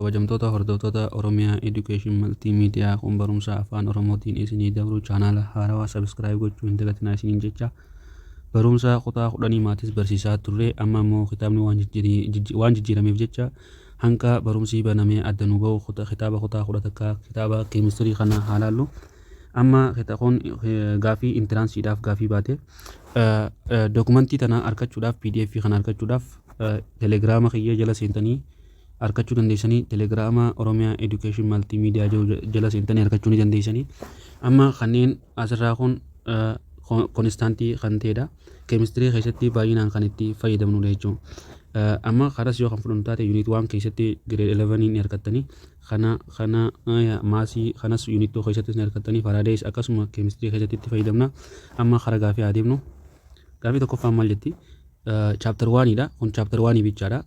Kabajamtoota hordoftoota Oromia Education Multi Media kun barumsa afaan Oromootiin isinii dabru chaanaala haarawaa subscribe gochuu hin dagatinaa isiniin jecha barumsa kutaa kudhanii maatis barsiisaa turre amma immoo kitaabni waan jijjiiri- jijji- waan jijjiirameef jecha hanga barumsi banamee adda nu ba'u kuta- kitaaba kutaa kudha takka kitaaba keemistirii kana haa laallu. Amma kita- kun eh, gaafii intiraansiidhaaf gaafii baate Eh, eh, dokumentii tana argachuudhaaf pdf kana argachuudhaaf eh, telegiraama kiyya jala seentanii arkachuu dandeessanii telegiraama oromiyaa education maltii miidiyaa jiru jala seentanii arkachuu ni dandeessanii amma kanneen asirraa kun konistaantii kan ta'edha keemistirii keessatti baay'inaan kan itti fayyadamnudha jechuun amma karas yoo kan fudhannu taate yuuniit waan keessatti gireed 11 ni argattanii kana kana maasii kanas yuuniit 2 keessattis ni argattanii faraadees akkasuma keemistirii keessatti itti fayyadamna amma kara gaafii haa deemnu gaafii tokkoffaan maal jetti chaaptar waaniidha kun chaaptar waanii bichaadha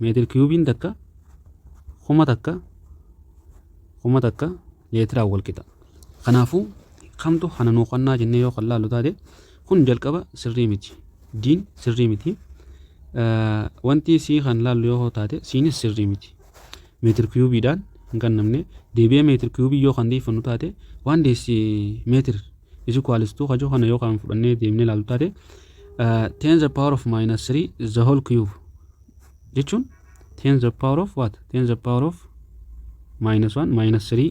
meetir kiyuubiin takka kuma takka kuma takka leetiraa wal qixa. Kanaafuu kamtu kana nuu qonnaa jennee yoo kan laallu taate kun jalqaba sirrii miti. Diin sirrii miti. Wanti sii kan laallu yoo taate siinis sirrii miti. meetir kiyuubiidhaan hin qannamne. Deebi'ee meetir kiyuubii yoo kan deeffannu taate waan deessi meetir is equals to kajoo kana yoo kan fudhannee deemnee ilaallu taate ten the power of minus 3 the whole cube jechuun ten the power of what ten the power of minus 1 minus 3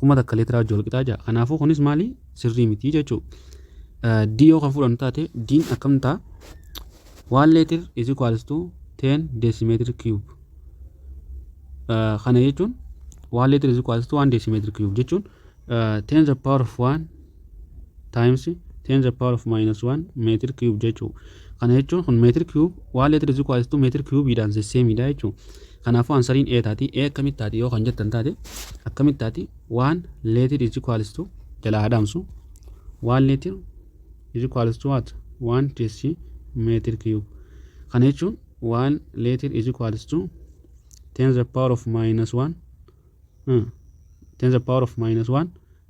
kuma takka leetiraa wajji wal qixaa ja'a kanaafuu kunis maali sirrii miti jechuu D yoo kan fudhannu taate D'n akkam ta'a 1 leetir is equals to 10 decimeter cube kana jechuun 1 leetir is equals to 1 decimeter cube jechuun 10 the power of 1 times 10 the power of minus 1 meetir cube jechuu kana jechuun kun meetir cube waan leetir is equals to meetir cube dhaan sesseemiidha jechuu kanaafuu ansariin a taati a akkamitti taati yoo kan jettan taate akkamitti taati waan leetir is equals to jala adamsu waan leetir is equals to what waan tessi meetir cube kana jechuun waan leetir is equals to 10 the power of minus 1 hmm. 10 the power of minus 1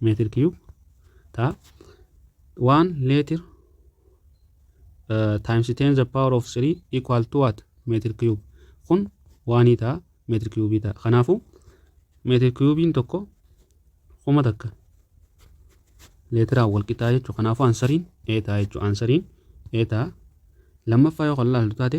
meetir kiyuub ta'a. Waan leetir times 10 the power of 3 equal to what meetir kiyuub kun waanii ta'a meetir kiyuubii ta'a. Kanaafuu meetir kiyuubiin tokko kuma takka leetiraan wal qixaa jechuudha. Kanaafuu ansariin ee ta'a jechuudha. Ansariin ee ta'a. Lammaffaa yoo kan laaltu taate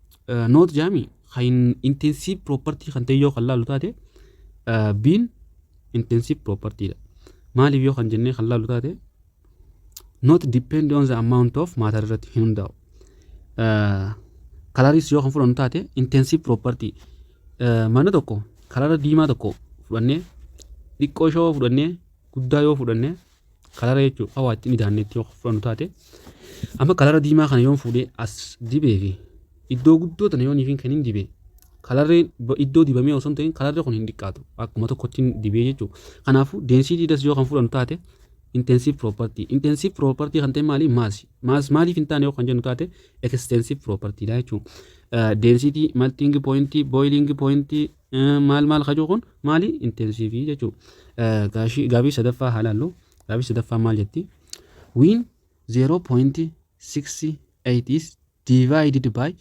Noot jaami kan intensive property kan ta'e yoo kan laalu taate biin intensive property dha. Maaliif yoo kan jennee kan laalu taate not depend on the amount of matter irratti hin hundaa'u. Kalaris yoo kan fudhannu taate intensive property mana tokko kalara diimaa tokko fudhannee xiqqoo ishoo fudhannee guddaa yoo fudhannee kalara jechuudha hawaa itti midaanneetti yoo fudhannu taate amma kalara diimaa kana yoon fuudhee as dibee fi iddoo guddoo tana yoon ifin kan hin dibee kalarreen ba- iddoo dibamee osoo hin ta'in kalarri kun hin dhiqqaatu akkuma tokkotti hin dibee jechuudha kanaafuu density das yoo kan fudhannu taate intensive property intensive property kan ta'e maali maasi maas maaliif hin taane yoo kan jennu taate extensive property dha jechuudha density melting point boiling point Maal maal kajuu kun maali intensiivii jechuu gaashii gaabii sadaffaa haa laallu gaabii sadaffaa maal jetti wiin 0.68 is divided by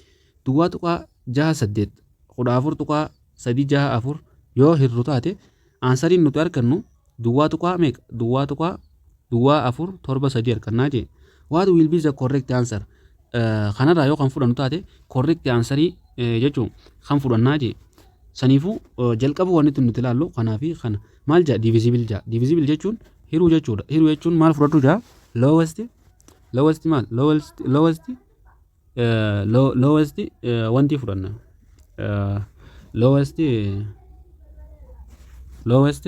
duwwaa tuqaa jaha saddeet kudha afur tuqaa sadii jaha afur yoo hirru taate Aansariin nuti arkannu duwwaa tuqaa meeqa? duwwaa tuqaa duwwaa afur torba sadii arkannaa jee. What will be the correct answer? Kanarraa yoo kan fudhannu taate correct aansarii jechuun kan fudhannaa jee. Saniifuu jalqaba wanti nuti ilaallu kanaa fi kana maal jaa divisibil jaa. Divisibil jechuun hiruu jechuudha. Hiruu jechuun maal fudhadhu jaa? Lowest lowest maal lowest lowest lowest wanti fudhanna lowest lowest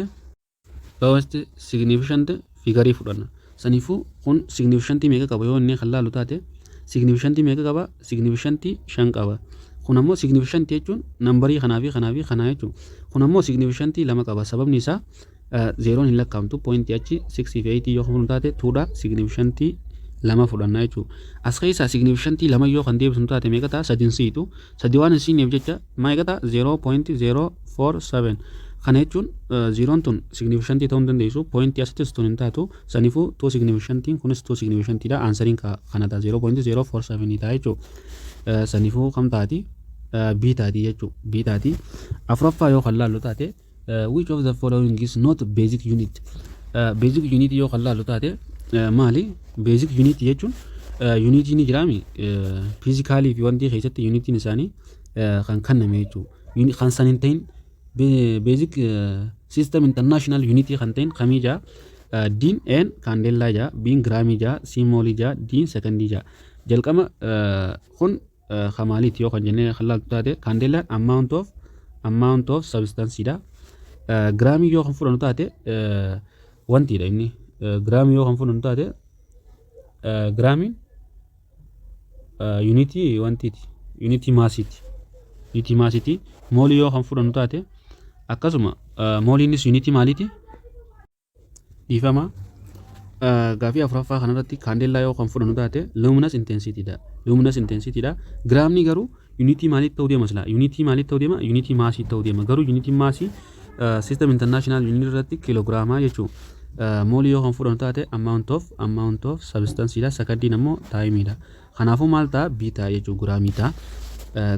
lowest significant figarii fudhanna saniifuu kun significant meeqa qaba yoo inni kan laalu taate significant meeqa qaba significant shan qaba kun ammoo significant jechuun nambarii kanaa fi kanaa fi kanaa jechuun kun ammoo significant lama qaba sababni isaa Zeeroon hin lakkaa'amtu poointii achi 6 fi 8 yoo kan fudhannu taate 2 dha signiifishantii lama fudhanna jechuudha. As keessaa signiifishantii lama yoo kan deebisnu taate meeqa ta'a sadin siitu sadi waan hin siineef jecha meeqa ta'a 0.047 kana jechuun zeeroon tun signiifishantii ta'uu hin dandeessu poointii asittis tun hin taatu sanifuu 2 signiifishantiin kunis 2 signiifishantii dha aansariin kana ta'a 0.047 ta'a jechuudha. Sanifuu kam taati B taati jechuudha B taati afuraffaa yoo kan laallu taate. Which of the following is not basic unit? Basic unit yoo kan laallu taate maali? Basic unit jechuun yuuniitii ni jiraami fiizikaalii fi wantii keessatti yuuniitiin isaanii kan kenname jechuudha. Kan san hin ta'in basic system international unit kan ta'in kamii jaa diin een kaandeellaa jaa biin giraamii jaa siimoolii jaa diin sekondii jaa jalqaba kun Ka maaliiti yoo kan jennee kan laaltu taate kaandeellaan amount of amount of substance dha. Giraamii yoo kan fudhannu taate wantiidha inni. Giraamii yoo kan fudhannu taate giraamiin yuunitii wantiiti yuunitii maasiiti. Yuunitii maasiiti moolii yoo kan fudhannu taate akkasuma mooliinis yuunitii maaliiti? Dhiifama. Gaafii afuraffaa kanarratti kaandeellaa yoo kan fudhannu taate luminous intensity dha. Luminous intensity dha. Giraamni garuu yuunitii maaliitti ta'uu deema silaa? Yuunitii maaliitti ta'uu deema? Yuunitii maasii ta'uu deema. Garuu yuunitiin maasii system international unit irratti kiloogiraamaa jechuu moolii yoo kan fudhannu taate amount of amount of substance dha. Sakandiin ammoo time dha. Kanaafuu maal ta'a? B ta'a jechuudha. Giraamii ta'a.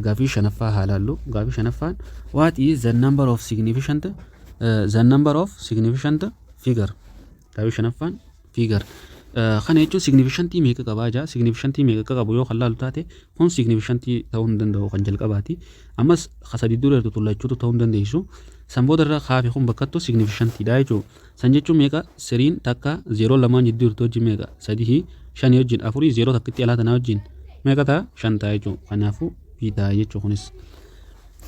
Gaaffii shanaffaa haa laallu. Gaaffii shanaffaan what is the number of significant uh, the number of significant figure. Gaaffii shanaffaan figure. Uh, kana jechuun significantii meeqa qabaa jaa significantii meeqa akka qabu yoo kan laalu taate kun significantii ta'uu hin danda'u kan jalqabaati ammas ka sadii dura irratti tullachuutu ta'uu hin dandeessu san booda irra kaafe kun bakkattu significantiidha jechuudha San jechuun meeqa? Siriin takka zeeroon lamaan jidduu jirtu wajjin meeqa? Sadihi shanii wajjin afurii zeeroo takkitti alaa tanaa wajjin meeqa ta'a? Shan ta'a jechuudha. Kanaafuu B ta'a jechuudha kunis.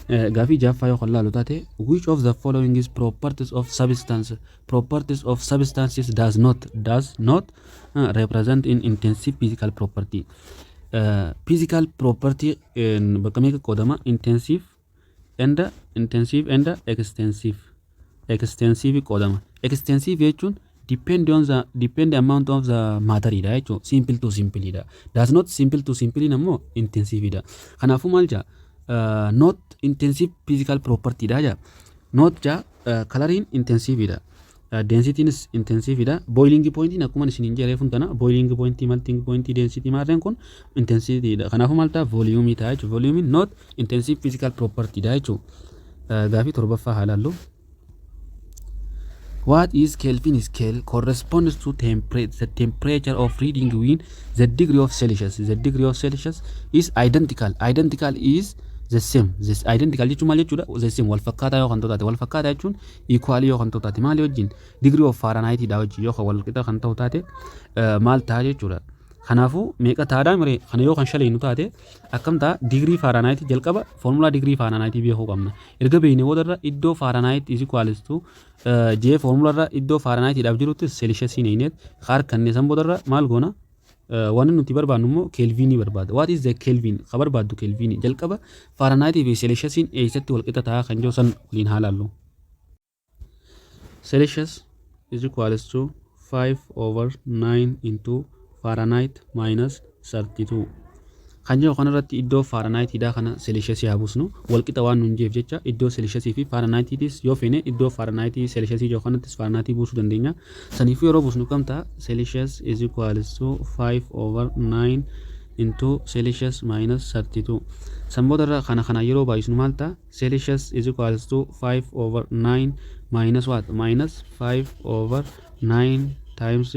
Gaafii jaaffaa yoo kan laalu taate which of the following is properties of substance properties of substances does not does not uh, represent in intensive physical property uh, physical property bakka meeqa qoodama intensive and intensive and extensive extensive qoodama extensive jechuun depend on the depend amount of the matter dha jechuun simple to simple dha does not simple to simple ammoo intensive dha kanaafuu maal jaa uh, not intensive physical property dha jaa not jaa uh, coloring intensive dha Densitiinis intensiivi dha. Boiling pointiin akkuma isin hin jedheefun tana boiling pointii, melting pointii, density maarreen kun intensity dha. Kanaafuu maal ta'a voliyuumii ta'a jechuudha. Voliyuumiin not intensive physical property dha jechuudha. Gaafii torbaffaa haa laallu. What is Kelvin scale corresponds to temper the temperature of reading when the degree of Celsius the degree of Celsius is identical identical is the same this identical jechuun maal jechuudha the same wal fakkaataa yoo kan ta'u taate wal fakkaataa jechuun Equal yoo kan ta'u taate maali wajjin? Degree of Fahrenheit dha wajjin yoo kan wal qixa kan ta'u taate maal ta'a jechuudha. Kanaafuu meeqa taadhaa miree kana yoo kan shaleenu taate akkam ta'a digirii faaraanaayitii jalqaba foormulaa digirii faaraanaayitii beekuu qabna. Erga beekne boodarra iddoo faaraanaayitii is equals to jee foormulaarra iddoo faaraanaayitiidhaaf jirutti seelishasiin eegneet harkanne san boodarra maal goona Wanni nuti barbaadnu immoo keelviinii barbaada. What is the Kelvin? Ka barbaaddu keelviinii. Jalqaba Faaranaayitii fi Seelishasiin eessatti walqixa ta'a kan jiru san waliin haa laallu. Celsius is equals to 5 over 9 into Fahrenheit minus 32. Kan jedhu kanarratti iddoo Faaranaayitiidhaa kana Seelishiyasii haa buusnu. Walqixa waan nuun jeef jecha iddoo Seelishiyasii fi Faaranaayitiitis yoo feene iddoo Faaranaayiti Seelishiyasii jedhu kanattis Faaranaayiti buusuu dandeenya. Saniifuu yeroo buusnu kam ta'a? Seelishiyas is equals to 5 over 9 into Seelishiyas minus 32. San boodarra kana kanaan yeroo baay'isnu maal ta'a? Seelishiyas is equals to 5 over 9 minus what? Minus 5 over 9 times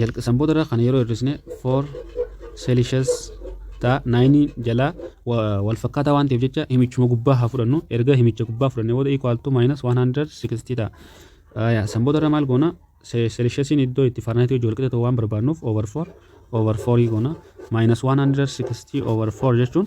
jalq san booda irra kana yeroo hir'isne 4 celsius ta'a 9 jalaa wa- wal fakkaataa waan ta'eef jecha himichuma gubbaa haa fudhannu erga himicha gubbaa fudhanne booda equal to minus 160 ta'a Aya, san booda irra maal goona Se- celsiusiin iddoo itti farnaayitii hojii walqixa ta'u waan barbaannuuf over 4 over 4 goona minus 160 over 4 jechuun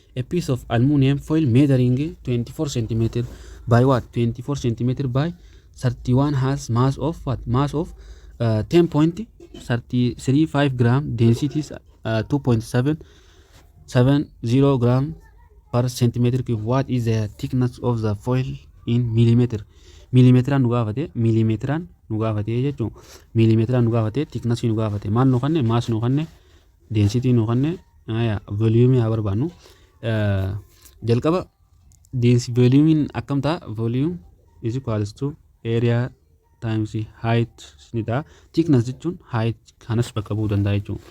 A piece of aluminium foil measuring 24 cm by what 24 cm by 31 has mass of what mass of uh, 10.335 gram density is, uh, 2.770 gram per centimeter cube what is the thickness of the foil in millimeter millimeteraan nu gaafate millimeteraan nu gaafate jechuun millimeteraan nu gaafate thickness nu gaafate maal nu kanne maas nu kanne density nu kanne aya volume haa barbaannu jalqaba density volume akkam ta'a volume is equals to area times height ni ta'a thickness jechuun height kanas bakka bu'uu danda'a jechuudha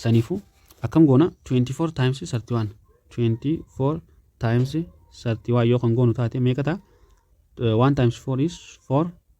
saniifuu akkam goona 24 times 31 24 times 31 yoo kan goonu taate meeqa ta'a 1 times 4 is 4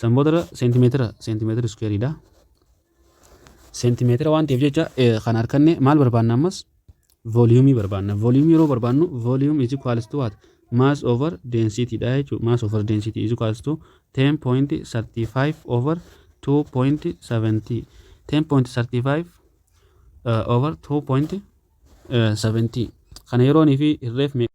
San boodarra seentimeetira seentimeetira iskuweeriidha. Seentimeetira waan ta'eef jecha kan harkanne maal barbaanna ammas vooliyuumii barbaanna. Vooliyuumii yeroo barbaannu vooliyuum is equals to what? Mass over density dha jechuudha. Mass over density is equals to 10.35 over 2.70. 10.35 uh, over 2.70. Kana yeroonii fi hirreef meeqa?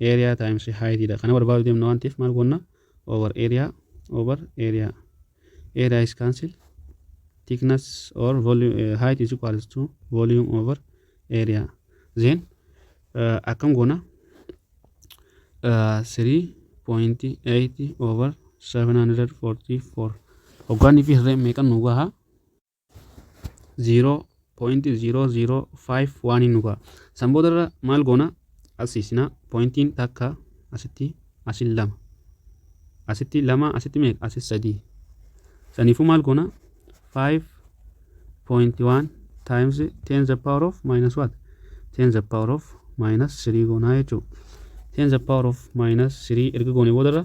area times height dha. Kana barbaadu deemna waan ta'eef maal goonna? over area over area area is cancel thickness or volume eh, height is equals to volume over area then uh, akkam goona uh, 3.8 over 744 hoggaanni fi hirreen meeqan nu gahaa 0.0005 waan hin nugaa san booda irra maal goona asiisina pointiin takka asitti asin lama asitti lama asitti meeqa asis sadii saniifuu maal goona 5.1 times 10 the power of minus what 10 the power of minus 3 goonaa jechuudha 10 the power of minus 3 erga goone booda irra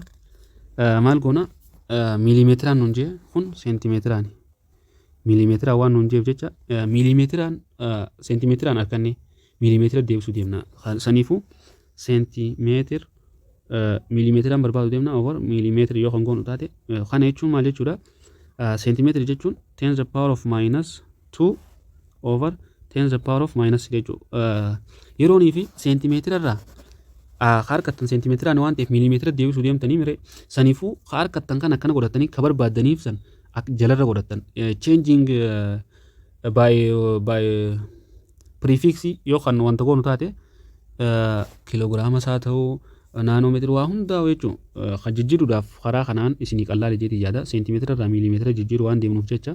maal goona miiliimeetiraan nun jee kun seentimeetiraani miiliimeetiraan waan nuun jeef jecha miiliimeetiraan seentimeetiraan arkanne miiliimeetira deebisuu deemna saniifuu seentimeetir miiliimeetiraan barbaadu deemna over miiliimeetira yoo kan goonu taate kana jechuun maal jechuudha seentimeetira jechuun tens the power of minus 2 over 10 the power of minus 3 jechuu yeroonii fi seentimeetira irraa ka harkattan seentimeetiraan waan ta'eef miilimeetira deebisuu deemtanii mire sanifuu ka harkattan kan akkana godhatanii ka barbaaddaniif san jalarra godhattan changing by by prefix yoo kan wanta goonu taate kiloogiraama isaa ta'uu naanoomeetira waa hundaa jechuun kan jijjiiruudhaaf karaa kanaan isinii qallaale jeetii yaada seentimeetira irraa miilimeetira jijjiiru waan deemnuuf jecha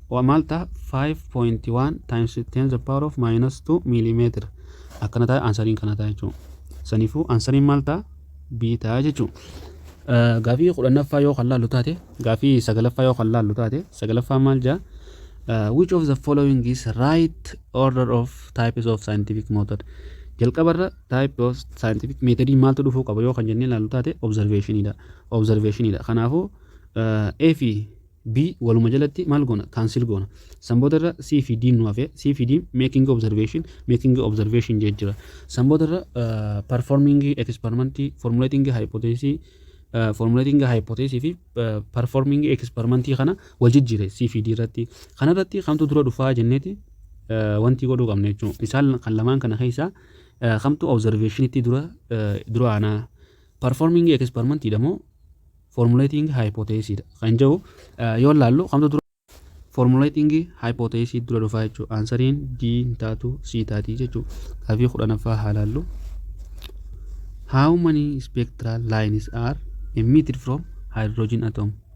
Waa maal taha 5.1 times 10 the power of minus 2 millimeter akkana taha ansariin kana taha jechuu saniifuu ansariin maal taha b taha jechuu gaafii kudhannaffaa yoo kan laallu taate gaafii sagalaffaa yoo kan laallu taate sagalaffaa maal jaa which of the following is right order of types of scientific method jalqabarra type of scientific method maaltu dhufuu qaba yoo kan jennee laallu taate observation dha observation dha kanaafuu A fi B waluma jalatti maal goona cancel goona san booda irra C fi D nu hafe C fi D making observation making observation jee jira san booda irra uh, performing experiment formulating hypothesis uh, formulating hypothesis fi uh, performing experiment kana wal jijjiire C fi D irratti kana irratti kamtu dura dhufaa jenneeti uh, wanti godhuu qabna jechuudha isaan kan lamaan kana keessaa uh, kamtu observation itti dura uh, dura aanaa Performing experiment dha moo formulating hypothesis dha kan jedhu yoo ilaallu kamtu dura formulating hypothesis dura dhufaa jechuudha. Ansariin D hin taatu C taati jechuudha. Gaafii kudhanaffaa haa ilaallu. How many spectral lines are emitted from hydrogen atom?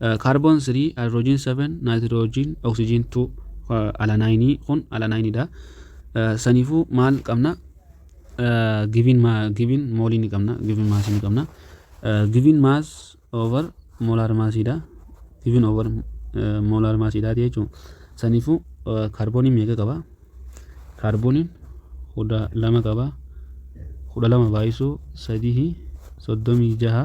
Kaarboon 3, haayidiroojiin 7, naayitiroojiin, oksijiin 2, alanaayinii kun alanaayiniidha. Saniifuu maal qabna? Giviin giviin moolii ni qabna, giviin maasii ni qabna. Giviin maas over moolaar maasiidha. Giviin over moolaar maasiidha jechuudha. Saniifuu kaarbooniin meeqa qaba? Kaarbooniin kudha lama qaba. Kudha lama baay'isuu sadii soddomii jaha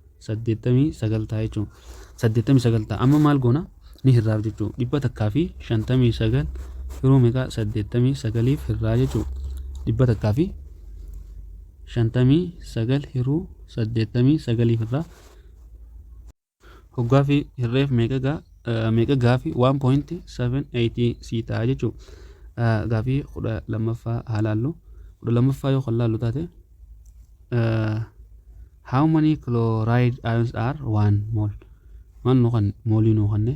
89 ta'a jechuun 89 ta'a amma maal goona ni hirraaf jechuu dhibba takkaa fi 59 firuu meeqa 89f hirraa jechuu dhibba takkaa fi 59 hiruu 89f irraa hoggaa fi hirreef meeqa gaa meeqa gaafi 1.78 sii ta'a jechuu gaafii kudha lammaffaa haa laallu kudha lammaffaa yoo kan laallu taate How many chloride ions are 1 mol Maal nuu kan moolii nuu kanne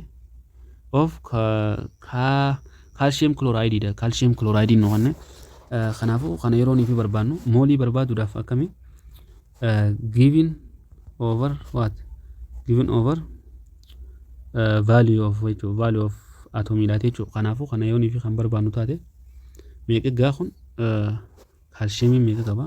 of ka ka calcium chloride dha calcium chloride nuu kanne Eh, kanaafuu kana yeroo nuuf barbaannu moolii barbaaduudhaaf akkami Eh, given over what given over eh, value of jechuudha value of atomiidha jechuudha kanaafuu kana yoo nuuf kan barbaannu taate meeqa gaa kun eh, kaalshiyeemii meeqa qaba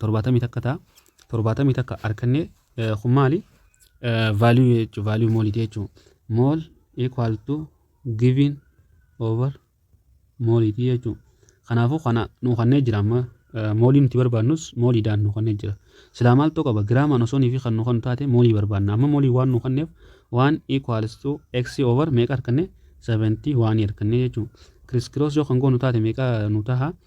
torbaatamii takka ta'a torbaatamii takka arkanne kun maali value jechuun value mooliti jechuun mool equal to giving over mooliti jechuun kanaafuu kana nuu kannee jira amma moolii nuti barbaannus mooliidhaan nuu kannee jira silaa maaltu qaba giraamaan osoo nuuf kan nuu kan taate moolii barbaanna amma moolii waan nuu kanneef waan equals to x over meeqa arkanne 71 arkanne jechuun kiriskiroos yoo kan goonu taate meeqa nuu taha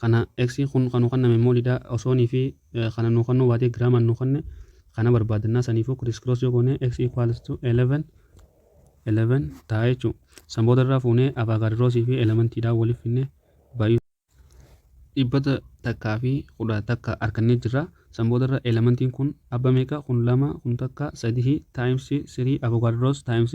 Kana X kun kan nuu kanname mall dha osoo ni fi kana nuu kannuu baatee giraamaan nuu kanne kana barbaadannaa saniifuu criss cross yoo goone X equals to 11 11 ta'a jechuu san booda irraa fuunee avaagaad roosii fi elementii dhaa waliif finne baay'uu dhibbata takkaa fi kudha takka arkannee jirra san booda irra elementiin kun abba meeqa kun lama kun takka sadihii times sirii avogaad roos times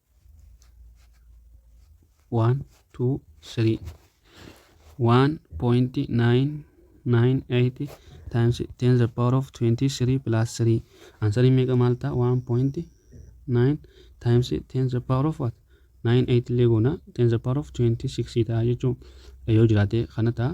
One two three one point nine nine eight times ten the power of twenty three plus three answering meeqa maal ta'a one point nine times ten the power of what nine eight illee goona ten the power of twenty six ta'a jechuun yoo jiraate kana ta'a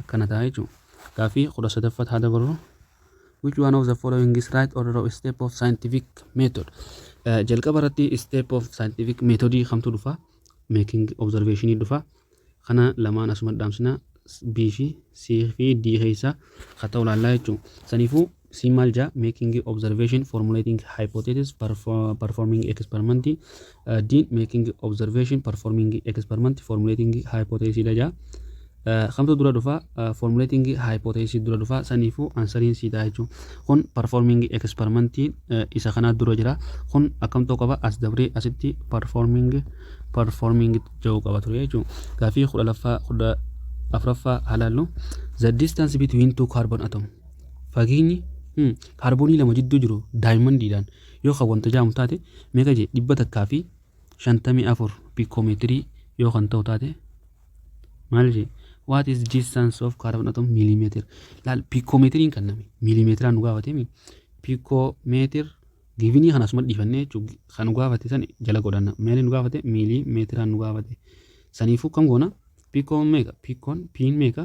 akkana ta'a jechuudha. Gaaffii 13ffaa haa dabarru. Which one of the following is right order of step of scientific method? Eh, Jalqaba irratti step of scientific method kamtu dhufa? Making observation dhufa. Kana lamaan asuma dhaamsina B fi C fi D keessa ka ta'u laallaa jechuudha. Saniifuu Siin maal jaa? Making observation, formulating hypothesis, performing experiment. Diin making observation, performing experiment, formulating hypothesis dha jaa. Kamtu dura dhufa formulating hypothesis dura dhufa saniifuu ansariin sii ta'a jechuun kun performing experiment isa kanaa dura jira kun akkamtoo qaba as dabree asitti performing performing ja'uu qaba ture jechuun gaafii kudha laffaa kudha afraffaa halaallu the distance between two carbon atom Fageenyi kaarboonii lama jidduu jiru daayimandiidhaan yoo kan wanta jaamu taate meeqa jee 154 piikoomeetirii yoo kan ta'u taate maal jee what is distance of carbon atom millimeter laal piikoomeetiriin kan name millimeetiraan nu gaafatemi piikoomeetir givinii kan asuma dhiifannee jechuun kan nu gaafate san jala godhanna meelii nu gaafate millimeetiraan nu gaafate saniifuu kam goona piikoon meeqa piikoon piin meeqa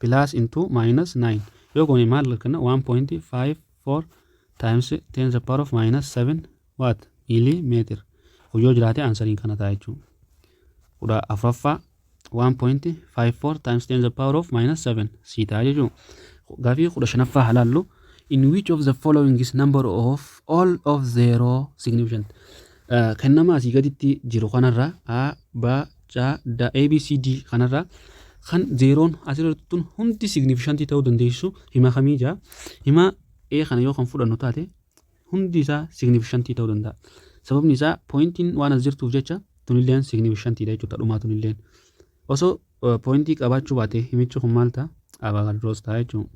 plus into minus 9 yoo goone maal arganna 1.54 times 10 the power of minus 7 what millimeter kun yoo jiraate ansariin kana ta'a jechuudha kudha afuraffaa 1.54 times 10 the power of minus 7 sii ta'a jechuudha gaafii kudha shanaffaa halaallu in which of the following is number of all of zero significant uh, kennama asii gaditti jiru kanarra a b Ca, da, A, B, C, D kanarraa kan zeeroon asirra tun hundi signiifishantii ta'uu dandeessu hima kamii jaa himaa A kana yoo kan fudhannu taate hundi isaa signiifishantii ta'uu danda'a. Sababni isaa pooyintiin waan as jirtuuf jecha tunilleen signiifishantiidha jechuudha dhumaa tunilleen. Osoo pooyintii qabaachuu baate himichi kun maal ta'a? Abaagalroos ta'a jechuudha.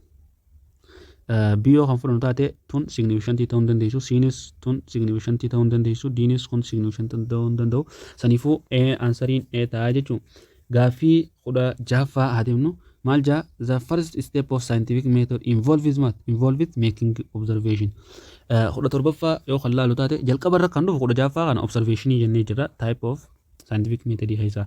B yoo kan fudhannu taate tun signiifishantii ta'uu hin dandeessu. Cnis tun signiifishantii ta'uu hin dandeessu. Dnis kun signiifishantii ta'uu hin danda'u. Saniifuu A ansariin A ta'a jechuun gaaffii kudha jaaffaa haa deemnu. Maal jaa the first step of scientific method involves maal involves making observation. Kudha torbaffaa yoo kan laalu taate jalqaba irra kan dhufu kudha jaaffaa kana observationii jennee jirra type of scientific method keessaa.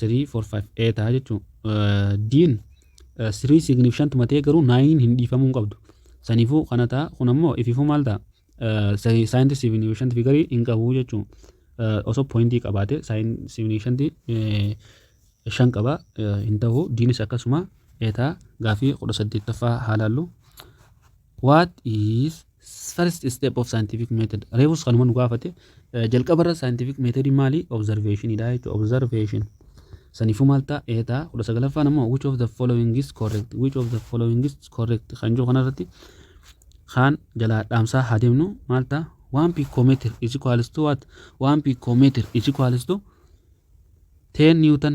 3 4 5 A ta'a jechuun D'n 3 significant matee garuu 9 hin dhiifamuu hin qabdu. Saniifuu kana ta'a kun ammoo ifiifuu maal ta'a? Saayinti significant figarii hin qabu jechuun osoo poointii qabaate saayin significant shan qaba hin ta'u D's akkasuma A ta'a gaafii 18ffaa haalaallu. What is first step of scientific method? Reefus kanuma nu gaafate. Eh, Jalqaba irra scientific method maali? Observation dha jechuudha. Observation. Saniifuu maal ta'a? Ee ta'a. Kudha sagalaffaan ammoo which of the following is correct? Which of the following is correct? Kan jiru kanarratti kaan jalaa dhaamsaa haa deemnu maal ta'a? One picometer is equals to what? One picometer is equals to 10 newton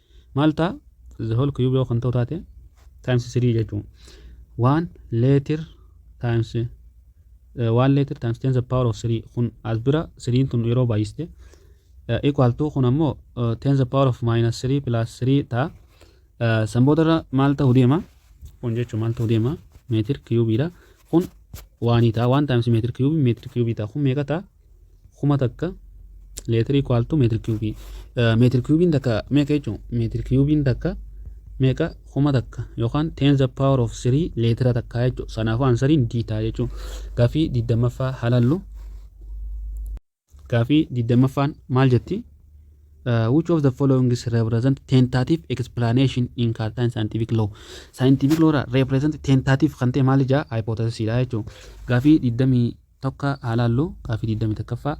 maal ta'a the whole cube yoo kan ta'u taate times 3 jechuun waan leetir times waan leetir times 10 the power of 3 kun as bira 3 tun yeroo baay'iste equal to kun ammoo 10 the power of minus 3 plus 3 ta'a san boodarra maal ta'u deema kun jechuun maal ta'u deema meetir kiyuubiidha kun waanii ta'a waan times meetir kiyuubii meetir kiyuubii ta'a kun meeqa ta'a kuma takka leetira equal to meetira kiyuubii meetira kiyuubiin takka meeqa jechuun meetira kiyuubiin takka meeqa kuma takka yookaan ten the power of three leetira takka jechuun sanaafuu ansariin D ta'a jechuun gaafii digdammaffaa halallu gaafii digdammaffaan maal jetti Uh, which of the following is represent tentative explanation in Cartan scientific law? Scientific law irraa represent tentative kan ta'e maal ijaa hypothesis dha jechuudha. Gaafii 20 tokka haa laallu gaaffii 21ffaa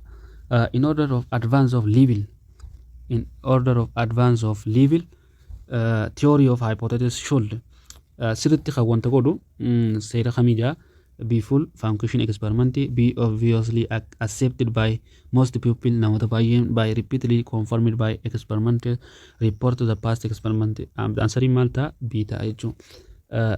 uh, in order of advance of level in order of advance of level uh, theory of hypothesis should uh, sirritti kan wanta godhu mm, seera kamii jaa be full function experiment be obviously ac- accepted by most people namoota baay'een by repeatedly confirmed by experiment report the past experiment answering maal ta'a b ta'a jechuudha.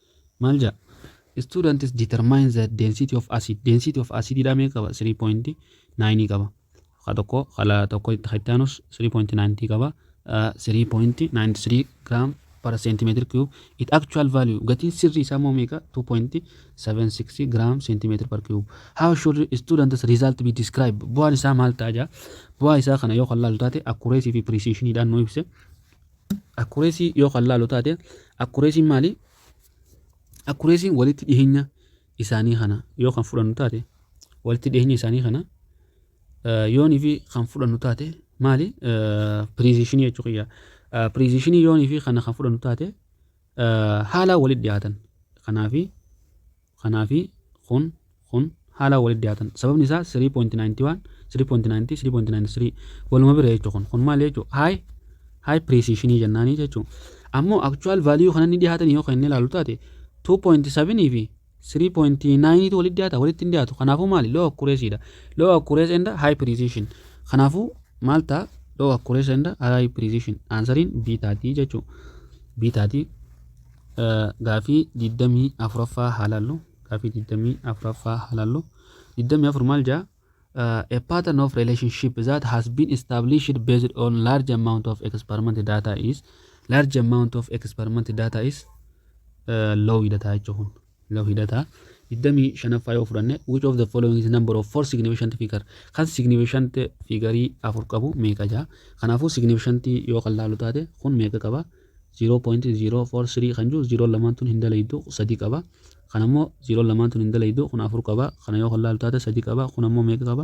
Maal jedha? Students determine the density of acid. Density of acid dhaa meeqa qaba? 3.9 qaba. Ka tokko kala tokko itti aanus 3.90 qaba. 3.93 gram per centimeter cube. It actual value gatiin sirrii isaa immoo meeqa? 2.76 gram centimeter per cube. How should students result be described? Bu'aan isaa maal ta'a jaa? Bu'aa isaa kana yoo kan laalu taate accuracy fi precision dhaan nu ibse. Akkureesii yoo kan laalu taate akkureesiin maali? Akkureesiin walitti dhiheenya isaanii kana yoo kan fudhannu taate walitti dhiheenya isaanii kana yoonii fi kan fudhannu taate maali? Piriizishinii jechuu kiyya. Piriizishinii yoonii fi kana kan fudhannu taate haala walitti dhiyaatan. Kanaafi kanaa fi kun kun haalaan walitti dhiyaatan sababni isaa 3.91 3.90 3.93 waluma bira jechuudha kun kun maal jechuudha haay haay piriisiishinii jennaanii jechuudha ammoo akchuwaal vaaliyuu kana ni dhiyaatan yoo kan inni ilaalu taate 2.7 fi 3.9 tu walitti dhiyaata walitti hin dhiyaatu kanaafuu maali loo akkureesiidha loo akkurees enda haay piriisiishin kanaafuu maal ta'a loo akkurees enda haay piriisiishin aansariin biitaatii jechuudha biitaatii Gaafii 24ffaa haa laallu. Gaafii 24ffaa haa laallu. 24 maal jaa? A pattern of relationship that has been established based on large amount of experiment data is large amount of experiment data is uh, low dha jechuun. Lau hidhata 25ffaa yoo fudhanne which of the following is number of four significant figure kan significant figure afur qabu meeqa jaa kanaafuu significant yoo kan laalu taate kun meeqa qaba 0.043 kan jiru 0 lamaan tun hin dalaydu sadii qaba kan ammoo 0 lamaan tun hin dalaydu kun afur qaba kana yoo kan laalu taate sadii qaba kun ammoo meeqa qaba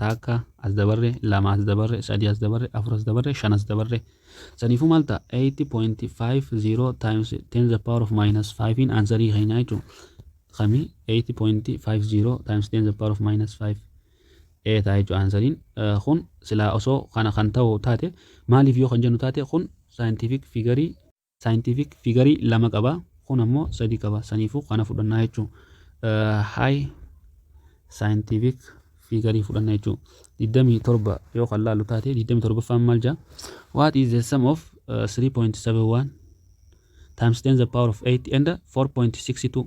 taakka as dabarre lama as dabarre sadii as dabarre afur as dabarre shan as dabarre saniifuu maal ta'a 8.50 times 10 the power of minus 5 in ansarii keenyaa jechuun kami 8.50 times 10 the power of minus 5 ee ta'a jechuun ansariin kun silaa osoo kana kan ta'u taate maaliif yoo kan jennu taate kun saayintiifik figarii Saayintiifik fiigarii lama qaba. Kun ammoo sadi qaba. Saniifuu kana fudhannaa jechuu. Haay saayintiifik fiigarii fudhanna jechuu. 27 yoo kan laalu taate 27ffaan maal jaa? What is the sum of uh, 3.71 times 10 the power of 8 and 4.62?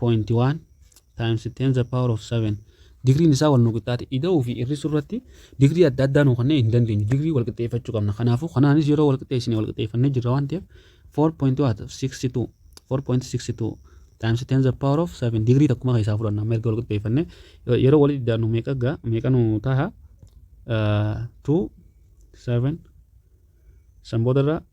point 1 times 10 the power of 7 digriin isaa wal nu qixxaate ida'uu fi hir'isuu irratti digrii adda addaa nu kennee hin dandeenyu digrii wal qixxeeffachuu qabna kanaafuu kanaanis yeroo wal qixxeessine wal qixxeeffannee jirra waan ta'eef 4.62 4.62 times 10 the power of 7 digrii takkuma keessaa fudhanna mirga wal qixxeeffannee yeroo walitti daannu meeqa gaa meeqa nu taha 2 7 san boodarra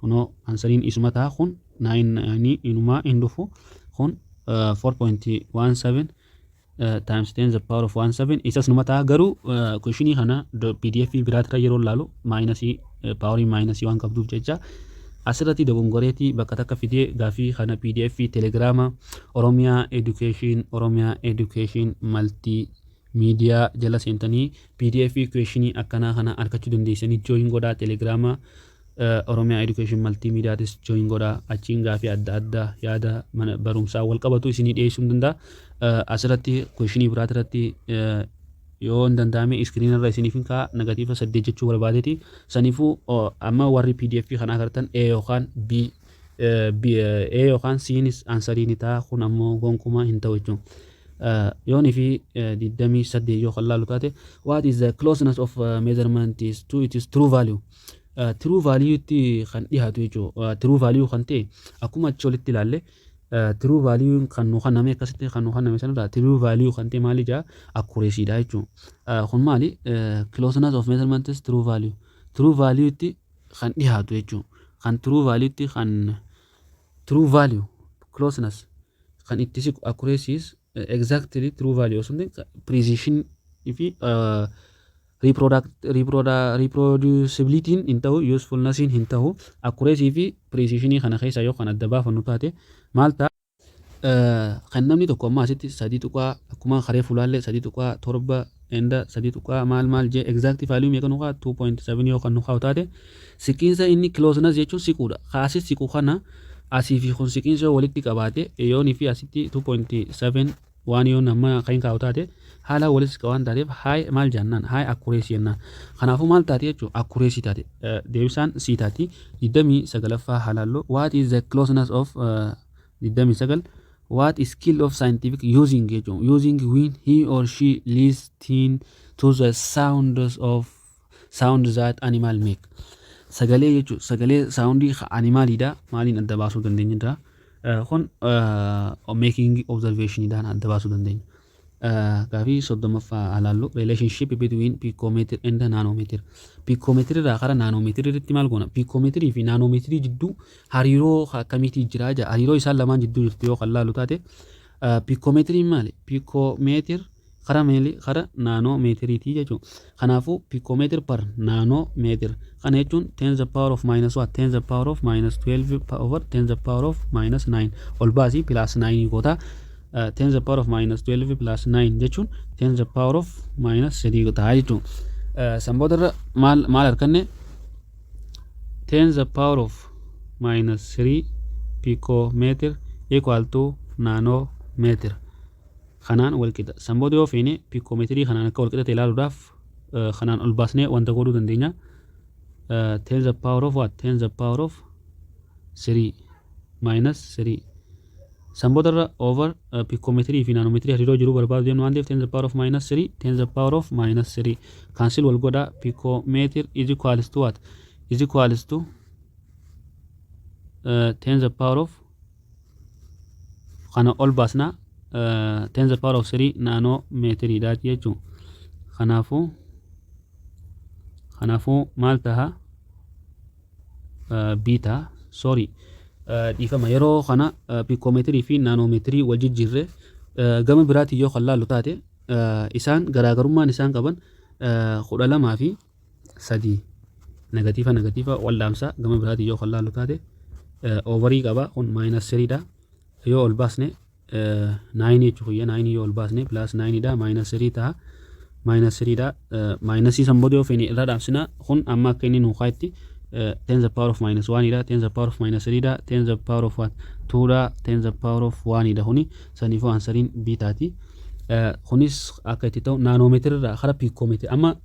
Kunoo ansariin isuma ta'a kun 99 inumaa hin dhufu kun 4.17 times 10 the power of 17 isas numa ta'a garuu kushinii kana pdf biraatirra yeroo laalu maayinasii paawarii maayinasii waan qabduuf jecha asirratti dogongoreetii bakka takka fidee gaafii kana pdf telegiraama oromiyaa education oromiyaa education maltii Media jala seentanii pdf question akkanaa kana argachuu dandeessanii join godhaa telegrama Oromia Education Multimedia tis join godhaa achiin gaafii adda addaa yaada mana barumsaa wal qabatu isinii dhiyeessuu hin danda'a asirratti question biraati irratti yoo hin danda'ame iskiriin irra isiniif hin ka'a negatiiva saddeet jechuu barbaadeeti saniifuu amma warri pdf kana agartan a yookaan b B, A yookaan Cnis ansarii ni ta'a kun ammoo gonkumaa hin ta'u jechuun. Yoon fi 28 yoo kan laalu taate what is the closeness of uh, measurement is to its true value. Uh, true value itti kan dhihaatu jechuudha. Uh, true value kan ta'e akkuma achi olitti ilaalle uh, true value kan nu kenname akkasitti kan nu kenname sanarraa true value kan ta'e maali jaa accuracy dha jechuudha. Uh, kun maali uh, closeness of measurement is true value. True value itti kan dhihaatu jechuun kan true value tti kan true value closeness kan itti siqu accuracies exactly true value osoo hin ta'in precision fi reproducibility hin ta'u usefulness hin ta'u accuracy fi precision kana keessa yoo kan adda baafannu taate maal ta'a Kan namni tokko ammaa asitti 3 tuqaa akkuma karee fulaallee 3 tuqaa 7 enda 3 tuqaa maal maal jee exact value meeqa nuqaa 2.7 yoo kan nuqaa utaate siqiinsa inni closeness jechuun siquudha ka asi siqu kana asii fi kun siqiinsa yoo walitti qabaate yoon fi asitti 2.7 Waan yoon hamma akka hin kaa'u taate haalaan walitti siqa waan taateef high maal jennaan high accuracy jennaan. Kanaafuu maal taate jechuun accuracy taate deebisaan sii taati 29ffaa halaalloo what is the closeness of 29 what is skill of scientific using jechuun using when he or she listen to the sounds of sound that animal make sagalee jechuun sagalee saawundii animaaliidha maaliin adda baasuu dandeenya irraa Eh, kun making observation dhaan adda baasuu dandeenya. Eh, Gaafii soddomaffaa alaallu relationship between picometer and nanometer. Picometer irraa gara nanometer irratti maal goona? Picometer fi nanometer jidduu hariiroo akkamiitii jira jaa hariiroo isaan lamaan jidduu jirtu yoo kan laalu taate eh, picometer maali? Picometer Kara meeli kara naanoo meetiriitii jechuu kanaafu piikomeetir par naanoo meetir kana jechuun ten the power of minus what ten the power of minus 12 over ten the power of minus 9 ol baasi plus 9 goota ten the power of minus 12 plus 9 jechuun ten the power of minus 3 goota jechuu sanboota irra maal maal arkanne ten the power of minus 3 piikomeetir equal to naanoo meetir kanaan wal qixa. San booda yoo feene piikoometirii kanaan akka wal qixa ta'e ilaaluudhaaf kanaan ol baasnee wanta godhuu dandeenya. 10 the power of what? 10 the power of 3 minus 3. San booda irra over piikoometirii fi naanoomeetirii hariiroo jiru barbaadu deemnu waan ta'eef 10 the power of minus 3 10 the power of minus 3 kaansil wal godha piikoomeetir is equals to what? is equals to 10 the power of kana ol baasna tens the power of 3 naanoo meetiriidha jechuun kanaafuu kanaafuu maal taha biita sorry dhiifama yeroo kana piikoomeetirii fi naanoomeetirii wal jijjiirre gama biraatiin yoo kan laallu taate isaan garaagarummaan isaan qaban kudha lamaa fi sadii negatiifa negatiifa wal dhaamsa gama biraatiin yoo kan laallu taate oovarii qaba kun maayinas siriidha yoo ol baasne naayinii jechuu kiyya naayinii yoo ol baasne pilaas naayiniidha maayinas sirii ta'a maayinas siriidha maayinasii san booda yoo feene irra dhaamsina kun amma akka inni nuu kaayetti ten the power of minus one dha ten the power of minus three dha ten the power of what two dha ten the power of one dha kuni saniifuu ansariin biitaati kunis akka itti ta'u naanoomeetira irraa kara piikoomeetira amma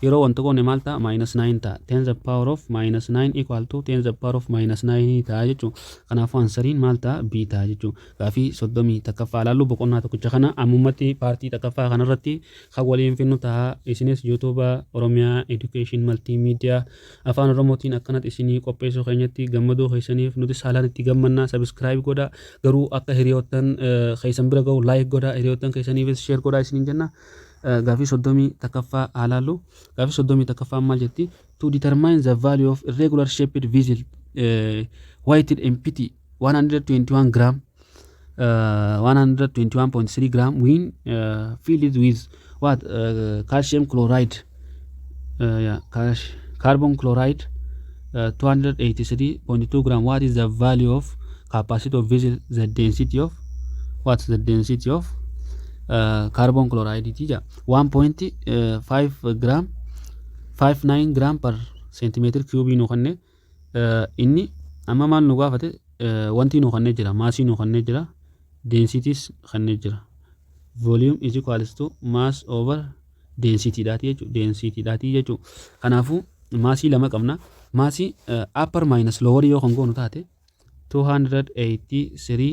Yeroo wal tuqoone maal ta'a? Minus 9 ta'a. 10 the power of minus 9 equal to 10 the power of minus 9 ta'a jechuu. Kanaafuu ansariin maal ta'a? B ta'a jechuu. Gaafii 31ffaa ilaallu boqonnaa tokkicha kana ammummatti paartii takkaffaa kanarratti kan waliin finnu ta'a. Isinis YouTube Oromiyaa Education Multimedia Afaan Oromootiin akkanatti isinii qopheessuu keenyatti gammaduu keessaniif nuti saalaan itti gammannaa subscribe godha. Garuu akka hiriyoottan keessan bira ga'u like godha. Hiriyoottan keessaniifis share godha isiniin jenna. Gaaffii 31ffaa haa ilaallu. Gaaffii 31ffaan maal jetti? To determine the value of irregular shaped vessel eh, weighted empty 121 gram uh, 121.3 gram when uh, filled with what uh, calcium chloride uh, yeah, cash carbon chloride uh, 283.2 gram what is the value of capacity of vessel the density of what's the density of uh, carbon chloride ti ja 1.5 gram 59 gram per centimeter cube nu kanne Inni amma maal nu gaafate wantii nu kennee jira maasii nu kennee jira densitiis kennee jira volume is equals to mass over density dhaatii jechuudha density dhaatii jechuudha kanaafuu maasii lama qabna maasii upper minus lower yoo kan goonu taate 283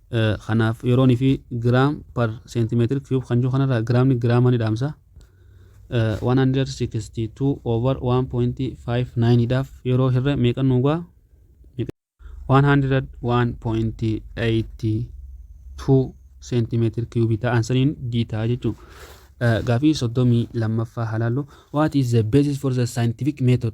Kanaaf yeroon fi gram per centimeter cube kan jiru kanarraa giraamni giraama ni dhaamsa. 162 over 1.59 dhaaf yeroo hirre meeqa nuu ga'a? 101.82 centimeter cube ta'an saniin jiitaa jechuun. Gaafii 32ffaa halaallu. What is the basis for the scientific method?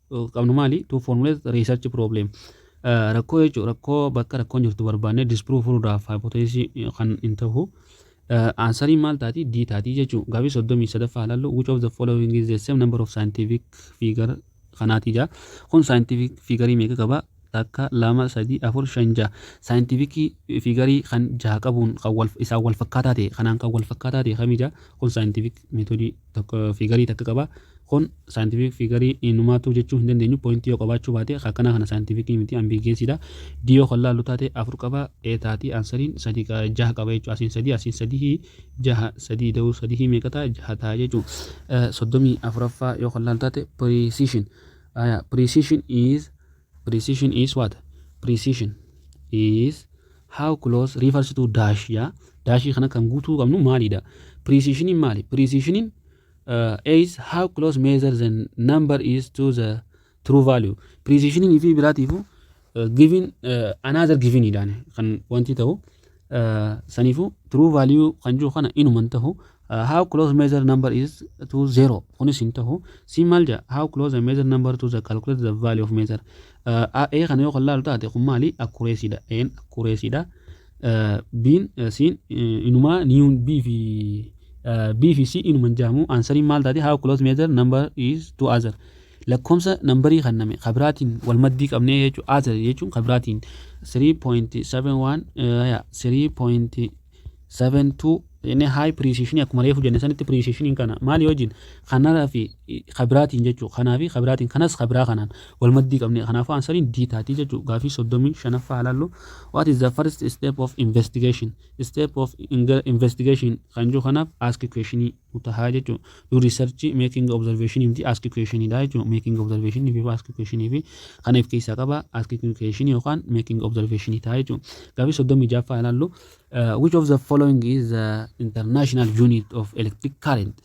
qabnu maali? To formulate research problem. Rakkoo jechuun rakkoo bakka rakkoon jirtu barbaannee disprove furuudhaaf hypothesis kan hin ta'u. Aansariin maal taati? D taati jechuun gaaffii soddomii sadaffaa ilaallu which of the following is the same number of scientific figure kanaati jaa. Kun scientific figure meeqa qaba? Takka, lama, sadii, afur, shan, jaha. Scientific figure kan jaha qabuun kan wal isaan wal fakkaataa ta'e kanaan kan wal fakkaataa ta'e kami jaa? Kun scientific method tokko fiigarii takka qaba. Kun saayintifiik fiigarii inumaatuu jechuu hin dandeenyu. Pooyintii yoo qabaachuu baate akkanaa kana saayintifiikii miti ambiigeesiidha. D yoo kan laallu taate afur qaba. E taati aansariin sadii qa- jaha qaba jechuudha. Asiin sadii asiin sadihii jaha sadii da'uu sadihii meeqa ta'a jaha ta'a jechuudha. Eh, Soddomii afuraffaa yoo kan laallu taate precision. Aya, precision is Precision is what? Precision is how close refers to dash jaa. Daashii kana kan guutuu qabnu maalidha? Precisioniin maali? Precisioniin uh, is how close measure the number is to the true value. Precisioniin fi biraatiifu uh, given uh, another given idhaan kan wanti ta'u saniifuu true value kan jiru kana inuma hin tahu how close measure number is to zero kunis hin tahu siin maal jedha how close a measure number to the calculate the value of measure a kana yoo kan laalu taate kun maali accuracy dha a'n accuracy dha b'n siin inumaa niyuun b fi b fi c inuma hin jedhamu ansariin maal taate how close measure number is to other Lakkoomsa nambarii kanname ka biraatiin wal maddii qabnee jechuun a ta'e jechuun ka biraatiin 3.71 ya 3.72 jennee high precision akkuma reefu jenne sanitti precision kana maali wajjin kanara fi ka biraatiin jechuu kanaa fi ka biraatiin kanas ka biraa kanaan wal maddii qabnee kanaafuu ansariin d taatii jechuu gaafii 35ffaa ilaallu what is the first step of investigation step of investigation kan jiru kanaaf ask questionii taha jechuun do research making observation miti ask question dha jechuun making observation fi ask question fi kana if keessaa qaba ask question yookaan making observation taha jechuun gaafii soddomii jaaffaa ilaallu uh, which of the following is the international unit of electric current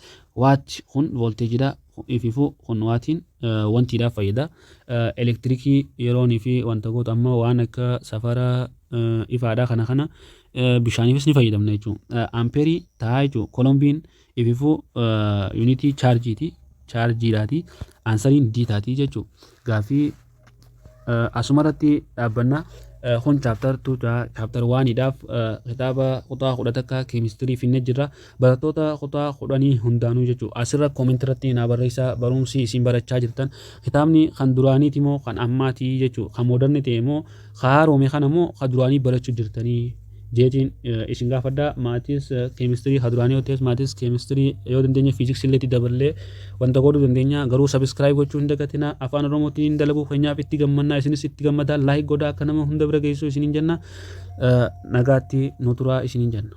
waat kun voltage dha ififu kun waatiin uh, wantiidhaaf fayyada uh, elektirikii yeroon fi wanta goota amma waan akka safara uh, ifaadha kana kana bishaaniifis ni fayyadamna jechuudha. Ampeerii taa'aa jechuudha. Kolombiin ififuu yuunitii chaarjiiti. Chaarjiidhaati. Aansariin D taati jechuudha. Gaaffii asumarratti dhaabbanna. Kun chaaptar 2 ta'a. Chaaptar 1 dhaaf kitaaba kutaa 10 takka keemistirii finne jirra. Barattoota kutaa 10 hundaanuu jechuudha. Asirra koomentii irratti naa barreessaa barumsi isin barachaa jirtan. Kitaabni kan duraaniiti moo kan ammaati jechuudha. Kan moodarni ta'e moo Ka haaroome kana immoo ka duraanii barachuu jirtanii jeetiin isin gaafadha. Maatis keemistirii ka duraanii yoo ta'es maatis keemistirii yoo dandeenye fiiziksii illee itti daballee wanta godhuu dandeenya. Garuu sabiskiraayib gochuu hin dagatina. Afaan Oromootiin dalaguu keenyaaf itti gammannaa isinis itti gammadaa laayik godhaa akka nama hunda bira geessuu isiniin jenna. Nagaatti nu turaa isiniin jenna.